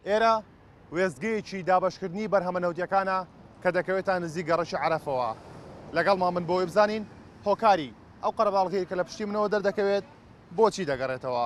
ئێرە وێستگەیەکی دابەشکردنی بەرهەمە نەوتیەکانە کە دەکەوێتە نزیک گەڕەکی عەرەفەوە لەگەڵمان من بۆی بزانین هۆکاری ئەو قەرەباڵغەیە کە لە پشتی منەوە دەردەکەوێت بۆچی دەگەڕێتەوە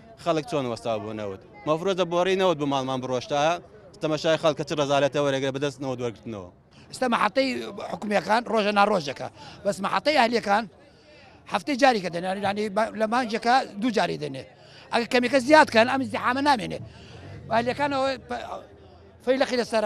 خەڵک چۆن وەستاو بۆ نەوت مەفرۆزە بۆڕی نەوت بۆ ماڵمان بڕۆشتە تەمەشای خەڵکە چ ڕزالەتە وەرەگرە بەدەست نەوە دوەرگرتنەوە ئستا مەحەتەی حکومیەکان ڕۆژە ناڕۆژەکە بەس مەحەتەی ئەهلیەکان هەفتەی جاریکە دەنێنانی لە مانجەکە دوو جاری دێنێ ئەگە کەمیکە زیادکەن ئەم زیحامە نامێنێ ئەهلیەکانەوە فەیلەقی لەسەر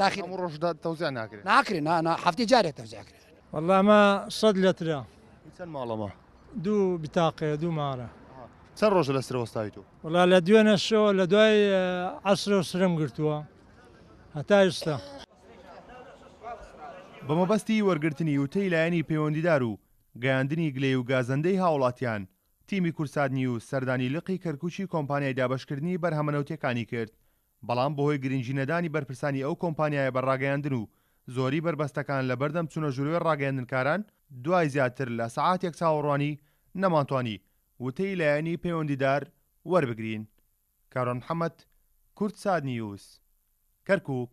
تاخیر هەموو ڕۆژ تەوزێ ناکرێت ناکرێت نانا هەفتی جارێت تەوزێ کرێت والله ما صد لترە چەند ماڵەمە دوو بتاقێ دوو مارە چەند ڕۆژە لە سرەوەستاوی تۆ والله لە دوێنە شۆ لە دوای عسرە و سرم گرتووە هەتا ئێستا بەمەبەستی وەرگرتنی وتەی لایەنی پەیوەندیدار و گەیاندنی گلەی و گازەندەی هاوڵاتیان تیمی کورسات نیوز سەردانی لقی کەرکوکی کۆمپانیای دابەشکردنی بەرهەمەنەوتەکانی کرد بەڵام بەهۆی گرنگی نەدانی بەرپرسانی ئەو کۆمپانیایە بە ڕاگەیاندن و زۆری بەربەستەکان لەبەردەم چونە ژوروێ ڕاگەیەندنکاران دوای زیاتر لە سەعاتێک چاوەڕوانی نەمانتوانی وتەی لایەنی پەیوەندیدار وەربگرین. کاروان محەمەد، کوردساتنیوز، کەرکوک.